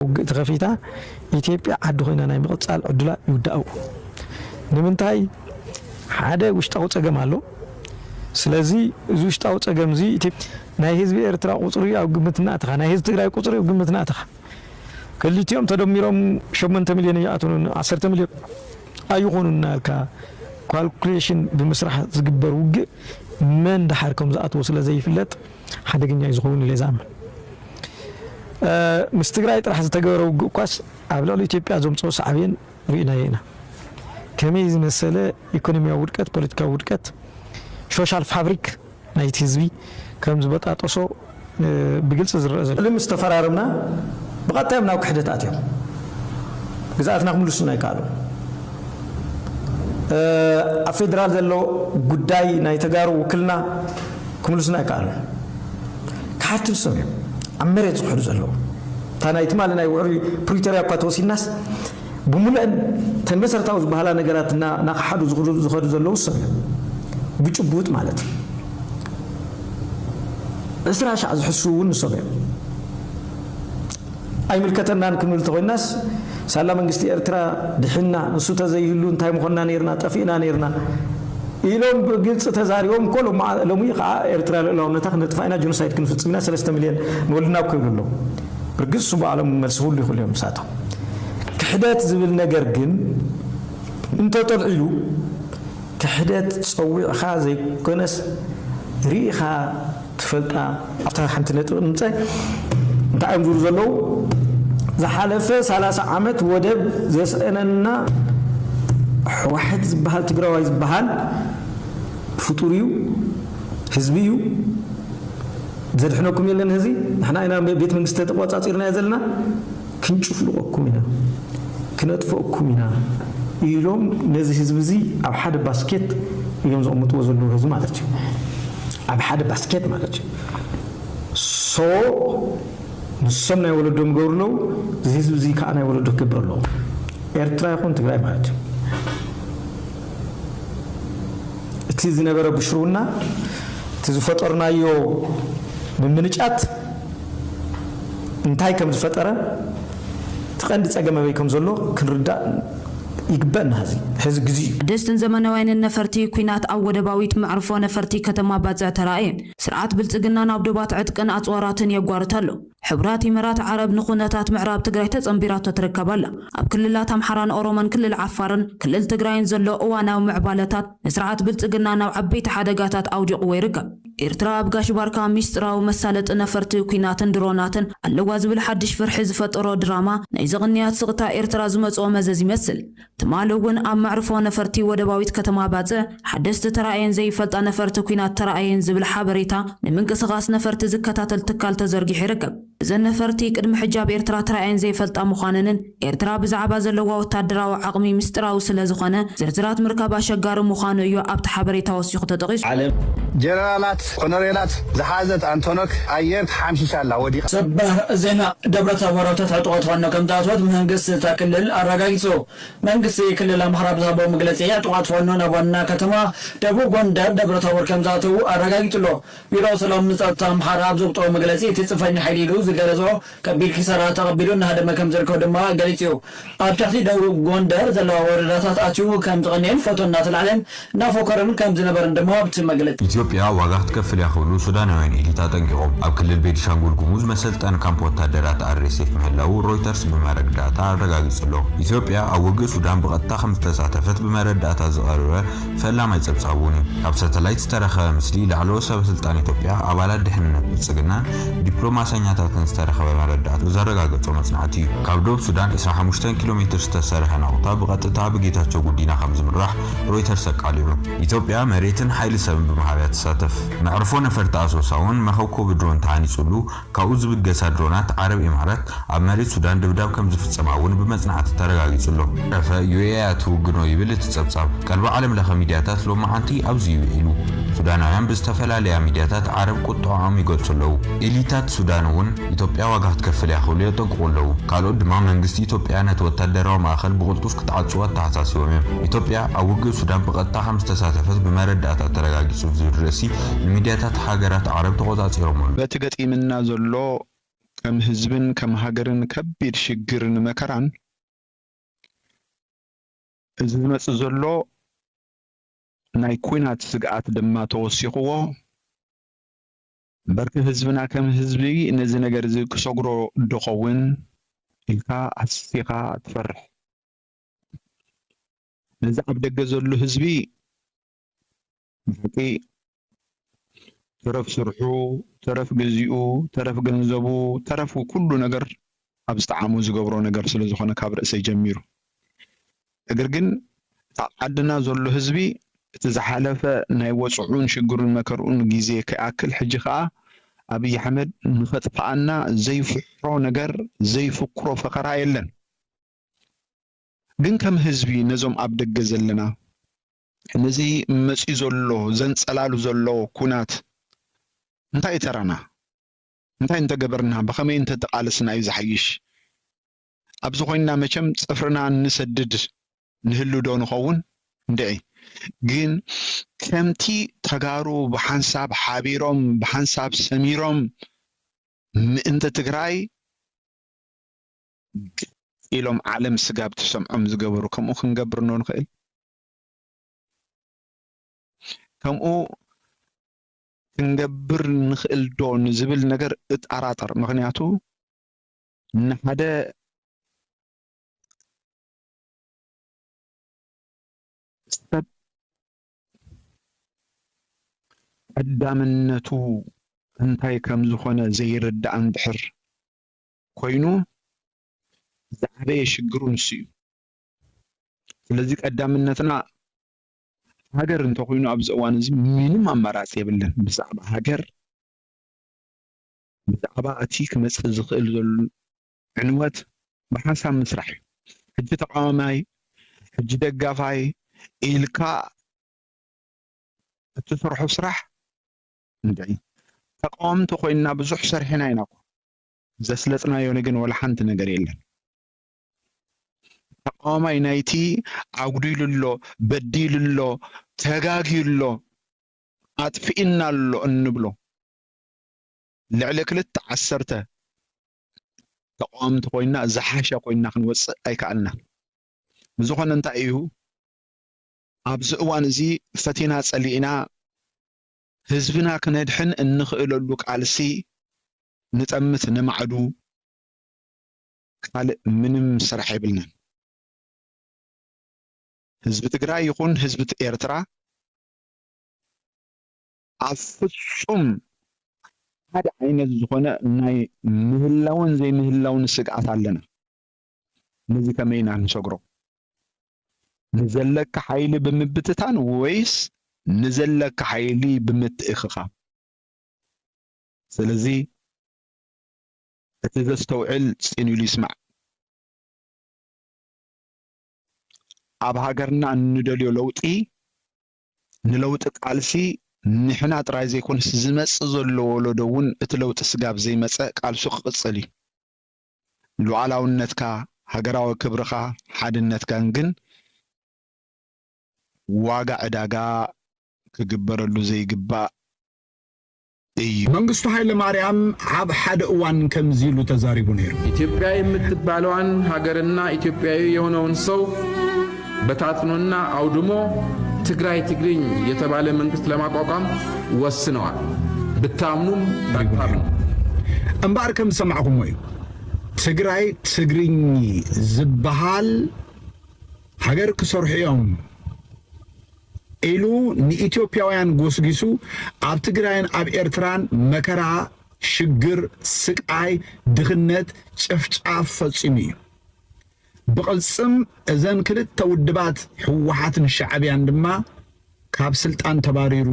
ውግእ ተኸፊታ ኢትዮጵያ ዓዲ ኮይና ናይ ምቕፃል ዕድላ ይውዳእ እዩ። ንምንታይ ሓደ ውሽጣዊ ፀገም ኣሎ። ስለዚ እዚ ውሽጣዊ ፀገም እዚ ኢትዮ- ናይ ህዝቢ ኤርትራ ቁጽሪ ኣብ ግምት እናእተኻ ናይ ህዝቢ ትግራይ ቁጽሪ ኣብ ግምት እናእተኻ ክልቲኦም ተደሚሮም ሸሞንተ ሚልዮን ኣይኣትኑን ዓሰርተ ሚልዮን ኣይኾኑን እናበልካ ኳልኩሌሽን ብምስራሕ ዝግበር ውግእ መን ደሓር ከም ዝኣትዎ ስለ ዘይፍለጥ ሓደገኛ እዩ ዝኸውን ኢለ ዝኣምን። ምስ ትግራይ ጥራሕ ዝተገበረ ውግእ እኳስ ኣብ ልዕሊ ኢትዮጵያ ዘምጽኦ ሳዕቤን ርኢናዮ ኢና። ከመይ ዝመሰለ ኢኮኖሚያዊ ውድቀት፣ ፖለቲካዊ ውድቀት፣ ሾሻል ፋብሪክ ናይቲ ህዝቢ ከም ዝበጣጠሶ ብግልፂ ዝረኣ ዘሎ። እሊ ምስ ተፈራረምና ብቐጥታ እዮም ናብ ክሕደት ኣትዮም። ግዝኣትና ክምልሱልና ኣይከኣሉን። ኣብ ፌደራል ዘሎ ጉዳይ ናይ ተጋሩ ውክልና ክምልሱልና ኣይከኣሉን። ከሓድቲ ንሶም እዮም ኣብ መሬት ዝኽሕዱ ዘለዉ። እታ ናይ ትማሊ ናይ ውዕሊ ፕሪቶርያ እኳ ተወሲድናስ፣ ብምሉኤን እተን መሰረታዊ ዝበሃላ ነገራት እና ናኸሓዱ ዝኸዱ ዘለዉ እሶም እዮም። ብጭቡጥ ማለት እዩ። ዕስራ ሻዕ ዝሕስዉ እውን ንሶም እዮም። ኣይምልከተናን ክንብል እንተኾይናስ ሳላ መንግስቲ ኤርትራ ድሒንና፣ ንሱ ተዘይህሉ እንታይ ምኾንና ነይርና፣ ጠፊእና ነይርና ኢሎም ብግልፂ ተዛሪቦም እኮ ሎሚ ኸዓ ኤርትራ ልኡላውነታ ክነጥፋ ኢና፣ ጆኖሳይድ ክንፍፅም ኢና፣ ሰለስተ ሚሊየን ንወልድና ኣብ ክብሉ ኣለዉ። ብርግፅ ስቡእ ኣለሙ መልሲ ክህሉ ይኽእሉ እዮም ንሳቶም። ክሕደት ዝብል ነገር ግን እንተጠልዒሉ ክሕደት ጸዊዕኻ ዘይኮነስ ሪኢኻ ትፈልጣ ኣብታ ሓንቲ ነጥቢ ክምጸ እንታይ እዮም ዝብሉ ዘለዉ ዝሓለፈ ሰላሳ ዓመት ወደብ ዘስእነና ሕዋሕት ዝበሃል ትግራዋይ ዝበሃል ፍጡር እዩ ህዝቢ እዩ ዘድሕነኩም የለን ህዚ ንሕና ኢና ቤት መንግስቲ ተቆጻጺርናዮ ዘለና ክንጭፍልቐኩም ኢና፣ ክነጥፈእኩም ኢና ኢሎም ነዚ ህዝቢ እዚ ኣብ ሓደ ባስኬት እዮም ዘቕምጥዎ ዘለዉ ህዝቢ ማለት እዩ ኣብ ሓደ ባስኬት ማለት እዩ so ንሶም ናይ ወለዶም ይገብሩ ኣለዉ እዚ ህዝቢ እዚ ከዓ ናይ ወለዶ ክገብር ኣለዎ ኤርትራ ይኹን ትግራይ ማለት እዩ እቲ ዝነበረ ብሽርውና እቲ ዝፈጠርናዮ ምምንጫት እንታይ ከም ዝፈጠረ እቲ ቀንዲ ፀገም ኣበይ ከም ዘሎ ክንርዳእ ይግበእ እና ሀዚ ሐዚ ግዚኡ ደስትን ዘመናውያንን ነፈርቲ ኲናት ኣብ ወደባዊት መዕርፎ ነፈርቲ ከተማ ባጽዕ ተራእየን። ስርዓት ብልጽግና ናብ ዶባት ዕጥቅን ኣጽዋራትን የጓርት ኣሎ። ሕቡራት ኢመራት ዓረብ ንኩነታት ምዕራብ ትግራይ ተጸንቢራቶ ትርከብ ኣላ። ኣብ ክልላት ኣምሓራን ኦሮሞን ክልል ዓፋርን ክልል ትግራይን ዘሎ እዋናዊ ምዕባለታት ንስርዓት ብልጽግና ናብ ዓበይቲ ሓደጋታት ኣውዲቕዎ ይርከብ። ኤርትራ ኣብ ጋሽ ባርካ ሚስጥራዊ መሳለጢ ነፈርቲ ኲናትን ድሮናትን ኣለዋ ዝብል ሓድሽ ፍርሒ ዝፈጠሮ ድራማ ናይዚ ቅንያት ስቕታ ኤርትራ ዝመጽኦ መዘዝ ይመስል። ትማሊ እውን ኣብ መዕርፎ ነፈርቲ ወደባዊት ከተማ ባጽዕ ሓደስቲ ተራእየን ዘይፈልጣ ነፈርቲ ኲናት ተራእየን ዝብል ሓበሬታ ንምንቅስቓስ ነፈርቲ ዝከታተል ትካል ተዘርጊሑ ይርከብ። እዘን ነፈርቲ ቅድሚ ሕጂ ኣብ ኤርትራ ተራእየን ዘይፈልጣ ምዃነንን ኤርትራ ብዛዕባ ዘለዋ ወታደራዊ ዓቕሚ ምስጢራዊ ስለ ዝኾነ ዝርዝራት ምርካብ ኣሸጋሪ ምዃኑ እዩ ኣብቲ ሓበሬታ ወሲኹ ተጠቒሱ። ዓለም ጀነራላት ኮነሬላት ዝሓዘት ኣንቶኖክ ኣየር ተሓምሺሻ ኣላ፣ ወዲቓ። ሰበር ዜና ደብረታቦር ኣብ ትሕቲ ዕጥቆት ፋኖ ከምዝኣተወት መንግስቲ እታ ክልል ኣረጋጊጹ። መንግስቲ ክልል ኣምሓራ ኣብ ዝሃቦ መግለጺ ዕጡቓት ፋኖ ናብ ዋና ከተማ ደቡብ ጎንደር ደብረታቦር ከምዝኣተዉ ኣረጋጊጹ'ሎ። ቢሮ ሰላም ንጸጥታ ኣምሓራ ኣብ ዘውጽኦ መግለጺ፣ እቲ ጽንፈኛ ሓይሊ ኢሉ ዝገለጾ ከቢድ ኪሳራ ተቐቢሉ እናሃደመ ከምዝርከብ ድማ ገሊጹ'ዩ። ኣብ ትሕቲ ደቡብ ጎንደር ዘለዋ ወረዳታት ኣትዩ ከምዝቐንየን ፎቶ እናተላዕለ እናፎከረን ከምዝነበረን ድማ ኣብቲ መግለጺ። ኢትዮጵያ ዋጋ ክትከፍል እያ ክብሉ ሱዳናውያን ኤሊት ኣጠንቂቖም። ኣብ ክልል ቤኒሻንጉል ጉሙዝ መሰልጠኒ ካምፕ ወታደራት RSF ምህላዉ ሮይተርስ ብመረግ ዳታ ኣረጋጊጹ'ሎ። ኢትዮጵያ ኣብ ውግእ ሱዳን ብቐጥታ ከምዝተሳተፈት ብመረዳእታ ዝቐርበ፣ ፈላማይ ጸብጻቡን እዩ። ካብ ሳተላይት ዝተረኸበ ምስሊ ላዕለዎት ሰበስልጣን ኢትዮጵያ፣ ኣባላት ድሕንነት ብልጽግናን ዲፕሎማሰኛታትን ዝተረኸበ መረዳእታ ዘረጋገጾ መጽናዕቲ እዩ። ካብ ዶብ ሱዳን ዕስራን ሓሙሽተን ኪሎ ሜትር ዝተሰርሐ ናቑታ ብቐጥታ ብጌታቸው ጉዲና ከም ዝምራሕ ሮይተርስ ኣቃሊዑ። ኢትዮጵያ መሬትን ሓይሊ ሰብን ብመሃብ እያ ትሳተፍ። መዕርፎ ነፈርቲ ኣሶሳ'ውን መኸብኮቢ ድሮን ተሃኒጹሉ። ካብኡ ዝብገሳ ድሮናት ዓረብ ኢማራት ኣብ መሬት ሱዳን ድብዳብ ከም ዝፍጸማ እውን ብመጽናዕቲ ተረጋጊጹ ኣሎ። ዕፈ ዩኤ እያ ትውግኖ ይብል እቲ ጸብጻብ። ቀልቢ ዓለም ለኸ ሚድያታት ሎምዓንቲ ኣብዚ'ዩ ውዒሉ። ሱዳናውያን ብዝተፈላለያ ሚድያታት ዓረብ ቁጠዐኦም ይገልጹ ኣለዉ። ኤሊታት ሱዳን እውን ኢትዮጵያ ዋጋ ክትከፍል እያ ክብሉ የጠንቅቑ ኣለዉ። ካልኦት ድማ መንግስቲ ኢትዮጵያ ነቲ ወታደራዊ ማእኸል ብቕልጡፍ ክትዓጽዎ ኣተሓሳሲቦም እዮም። ኢትዮጵያ ኣብ ውግእ ሱዳን ብቐጥታ ከም ዝተሳተፈት ብመረዳእታ ተረጋጊጹ ዝብል ርእሲ ፕረዚደንት፣ ንሚድያታት ሃገራት ዓረብ ተቖጻጺሮም ኣለዉ። በቲ ገጢምና ዘሎ ከም ህዝብን ከም ሃገርን ከቢድ ሽግርን መከራን፣ እዚ ዝመጽእ ዘሎ ናይ ኲናት ስግኣት ድማ ተወሲኽዎ፣ እምበር'ከ ህዝብና ከም ህዝቢ ነዚ ነገር'ዚ ክሰግሮ ዶ'ኸውን ኢልካ ኣስፊኻ ትፈርሕ። ነዚ ኣብ ደገ ዘሎ ህዝቢ ብሓቂ ተረፍ ስርሑ፣ ተረፍ ግዚኡ፣ ተረፍ ገንዘቡ፣ ተረፍ ኩሉ ነገር ኣብ ዝጠዓሞ ዝገብሮ ነገር ስለ ዝኾነ ካብ ርእሰይ ጀሚሩ እግር ግን ኣብ ዓድና ዘሎ ህዝቢ እቲ ዝሓለፈ ናይ ወጽዑን ሽግሩን መከርኡን ግዜ ከይኣክል ሕጂ ከኣ ኣብይ ኣሕመድ ንኸጥፍኣና ዘይፍሕሮ ነገር ዘይፍክሮ ፈኸራ የለን። ግን ከም ህዝቢ ነዞም ኣብ ደገ ዘለና ነዚ መጺኡ ዘሎ ዘንጸላሉ ዘሎ ኩናት እንታይ እዩ ተራና? እንታይ እንተገበርና ብኸመይ እንተተቓለስና እዩ ዝሓይሽ? ኣብዚ ኮይንና መቸም ጽፍርና እንሰድድ ንህሉ ዶ ንኸውን? እንድዒ ግን ከምቲ ተጋሩ ብሓንሳብ ሓቢሮም ብሓንሳብ ሰሚሮም ምእንቲ ትግራይ ግልጽ ኢሎም ዓለም ስጋብ ትሰምዖም ዝገበሩ ከምኡ ክንገብር ዶ ንኽእል? ከምኡ ክንገብር ንኽእል ዶ ንዝብል ነገር እጠራጠር። ምኽንያቱ ንሓደ ሰብ ቀዳምነቱ እንታይ ከም ዝኾነ ዘይርዳእ እንድሕር ኮይኑ ዝዓበየ ሽግሩ ንሱ እዩ። ስለዚ ቀዳምነትና ሃገር እንተኾይኑ ኣብዚ እዋን እዚ ምንም ኣማራፂ የብለን ብዛዕባ ሃገር ብዛዕባ እቲ ክመፅእ ዝኽእል ዘሎ ዕንወት ብሓንሳብ ምስራሕ እዩ። ሕጂ ተቃዋማይ ሕጂ ደጋፋይ ኢልካ እትሰርሖ ስራሕ እንታይ ተቃወምቲ ኮይንና ብዙሕ ሰርሕና ኢና እኮ ዘስለጥናዮ ንግን ወላ ሓንቲ ነገር የለን። ተቃዋማይ ናይቲ ኣጉዲሉ ኣሎ፣ በዲሉ ኣሎ፣ ተጋግዩ ኣሎ፣ ኣጥፊኡና ኣሎ እንብሎ ልዕሊ ክልተ ዓሰርተ ተቃዋምቲ ኮይና ዝሓሸ ኮይና ክንወጽእ ኣይከኣልናን። ብዝኾነ እንታይ እዩ ኣብዚ እዋን እዚ ፈቲና ጸሊእና ህዝብና ክነድሕን እንኽእለሉ ቃልሲ ንጠምት ንማዕዱ ካልእ ምንም ስራሕ የብልናን። ህዝቢ ትግራይ ይኹን ህዝቢ ኤርትራ ኣብ ፍጹም ሓደ ዓይነት ዝኾነ ናይ ምህላውን ዘይምህላውን ስግኣት ኣለና። ነዚ ከመይ ኢና ንሰግሮ? ንዘለካ ሓይሊ ብምብትታን ወይስ ንዘለካ ሓይሊ ብምትእኽኻብ? ስለዚ እቲ ዘስተውዕል ጽን ኢሉ ይስማዕ። ኣብ ሃገርና እንደልዮ ለውጢ ንለውጢ ቃልሲ ንሕና ጥራይ ዘይኮነስ ዝመጽእ ዘሎ ወለዶ እውን እቲ ለውጢ ስጋብ ዘይመጸ ቃልሱ ክቕጽል እዩ። ሉዓላውነትካ፣ ሃገራዊ ክብርኻ፣ ሓድነትካን ግን ዋጋ ዕዳጋ ክግበረሉ ዘይግባእ እዩ። መንግስቱ ሃይለማርያም ኣብ ሓደ እዋን ከምዚ ኢሉ ተዛሪቡ ነይሩ። ኢትዮጵያ የምትባለዋን ሃገርና ኢትዮጵያዊ የሆነውን ሰው በታትኖና ኣውድሞ ትግራይ ትግርኝ የተባለ መንግስት ለማቋቋም ወስነዋል። ብታምኑም ባታምኑ። እምበኣር ከም ዝሰማዕኹሞ እዩ። ትግራይ ትግርኝ ዝበሃል ሃገር ክሰርሑ እዮም ኢሉ ንኢትዮጵያውያን ጎስጊሱ ኣብ ትግራይን ኣብ ኤርትራን መከራ፣ ሽግር፣ ስቃይ፣ ድኽነት፣ ጨፍጫፍ ፈጺሙ እዩ። ብቕልጽም እዘን ክልተ ውድባት ህወሓትን ሻዕብያን ድማ ካብ ስልጣን ተባሪሩ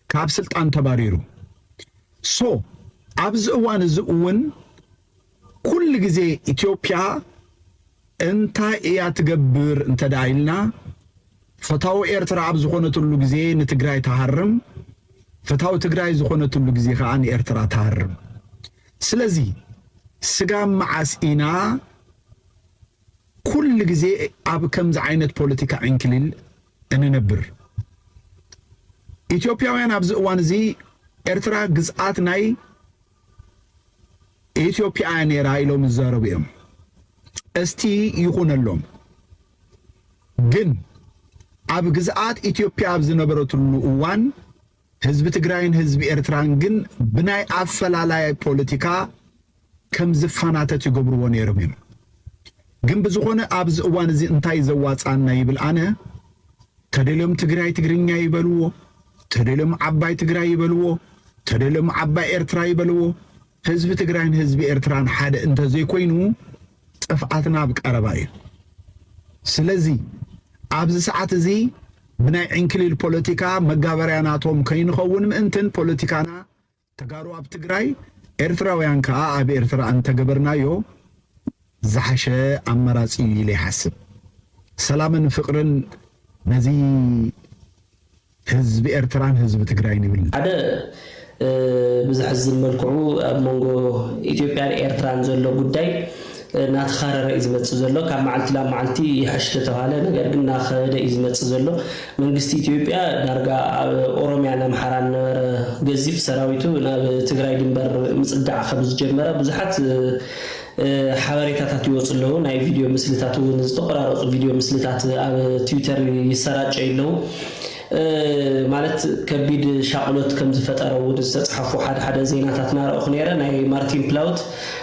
ካብ ስልጣን ተባሪሩ። ሶ ኣብዚ እዋን እዚ እውን ኩሉ ግዜ ኢትዮጵያ እንታይ እያ ትገብር እንተ ኢልና ፈታዊ ኤርትራ ኣብ ዝኾነትሉ ግዜ ንትግራይ ትሃርም፣ ፈታዊ ትግራይ ዝኾነትሉ ግዜ ከዓ ንኤርትራ ትሃርም። ስለዚ ስጋብ መዓስ ኢና ኩሉ ግዜ ኣብ ከምዚ ዓይነት ፖለቲካ ዕንክሊል እንነብር? ኢትዮጵያውያን ኣብዚ እዋን እዚ ኤርትራ ግዝኣት ናይ ኢትዮጵያ እያ ነይራ ኢሎም ይዛረቡ እዮም። እስቲ ይኹነሎም ግን ኣብ ግዝኣት ኢትዮጵያ ኣብ ዝነበረትሉ እዋን ህዝቢ ትግራይን ህዝቢ ኤርትራን ግን ብናይ ኣፈላላይ ፖለቲካ ከም ዝፋናተት ይገብርዎ ነይሮም እዮም። ግን ብዝኾነ ኣብዚ እዋን እዚ እንታይ እዩ ዘዋጽኣና ይብል ኣነ ተደልዮም ትግራይ ትግርኛ ይበልዎ ተደልዮም ዓባይ ትግራይ ይበልዎ ተደልዮም ዓባይ ኤርትራ ይበልዎ ህዝቢ ትግራይን ህዝቢ ኤርትራን ሓደ እንተዘይኮይኑ ጥፍኣትና ኣብ ቀረባ እዩ ስለዚ ኣብዚ ሰዓት እዚ ብናይ ዕንክሊል ፖለቲካ መጋበርያ ናቶም ከይንኸውን ምእንትን ፖለቲካና ተጋሩ ኣብ ትግራይ ኤርትራውያን ከኣ ኣብ ኤርትራ ኣንተገበርናዮ ዝሓሸ ኣማራጺ እዩ ኢለ ይሓስብ ሰላምን ፍቅርን ነዚ ህዝቢ ኤርትራን ህዝቢ ትግራይን ይብል። ሓደ ብዘሕዝን መልክዑ ኣብ መንጎ ኢትዮጵያን ኤርትራን ዘሎ ጉዳይ ናተኻረረ እዩ ዝመፅእ ዘሎ ካብ መዓልቲ ናብ መዓልቲ ይሐሽ ተተብሃለ ነገር ግን ናኸበደ እዩ ዝመፅእ ዘሎ መንግስቲ ኢትዮጵያ ዳርጋ ኣብ ኦሮሚያን ኣምሓራን ነበረ ገዚፍ ሰራዊቱ ናብ ትግራይ ድንበር ምፅጋዕ ከምዝጀመረ ብዙሓት ሓበሬታታት ይወፁ ኣለዉ ናይ ቪድዮ ምስልታት እውን ዝተቆራረፁ ቪድዮ ምስልታት ኣብ ትዊተር ይሰራጨዩ ኣለዉ ማለት ከቢድ ሻቕሎት ከምዝፈጠረ እውን ዝተፅሓፉ ሓደ ሓደ ዜናታት ናረእኹ ነይረ ናይ ማርቲን ፕላውት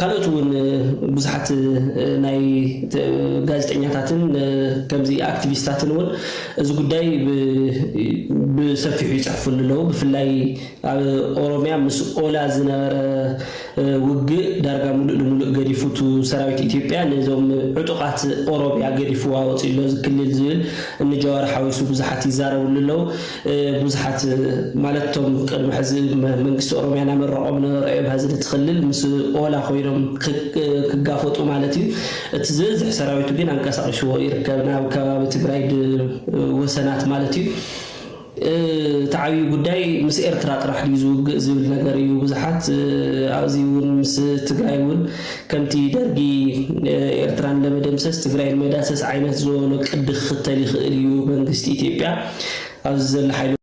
ካልኦት እውን ብዙሓት ናይ ጋዜጠኛታትን ከምዚ ኣክቲቪስታትን እውን እዚ ጉዳይ ብሰፊሑ ይፅሕፍሉ ኣለዉ። ብፍላይ ኣብ ኦሮሚያ ምስ ኦላ ዝነበረ ውግእ ዳርጋ ሙሉእ ንሙሉእ ገዲፉ እቱ ሰራዊት ኢትዮጵያ ነዞም ዕጡቓት ኦሮሚያ ገዲፍዋ ወፂኡ ኣሎ እዚ ክልል ዝብል እኒ ጃዋር ሓዊሱ ብዙሓት ይዛረብሉ ኣለዉ። ብዙሓት ማለት እቶም ቅድሚ ሕዚ መንግስቲ ኦሮሚያ ናመረቆም ነበረእዮም ሀዚ ነቲ ክልል ምስ ኦላ ኮይኖም ክጋፈጡ ማለት እዩ እቲ ዝበዝሕ ሰራዊቱ ግን ኣንቀሳቂስዎ ይርከብ ናብ ከባቢ ትግራይ ወሰናት ማለት እዩ እቲ ዓብዪ ጉዳይ ምስ ኤርትራ ጥራሕ ድዩ ዝውግእ ዝብል ነገር እዩ ብዙሓት ኣዚ እውን ምስ ትግራይ እውን ከምቲ ደርጊ ኤርትራ ንለመደምሰስ ትግራይ ንመዳሰስ ዓይነት ዝወበሎ ቅዲ ክኽተል ይኽእል እዩ መንግስቲ ኢትዮጵያ ኣብዚ ዘሎ ሓይሊ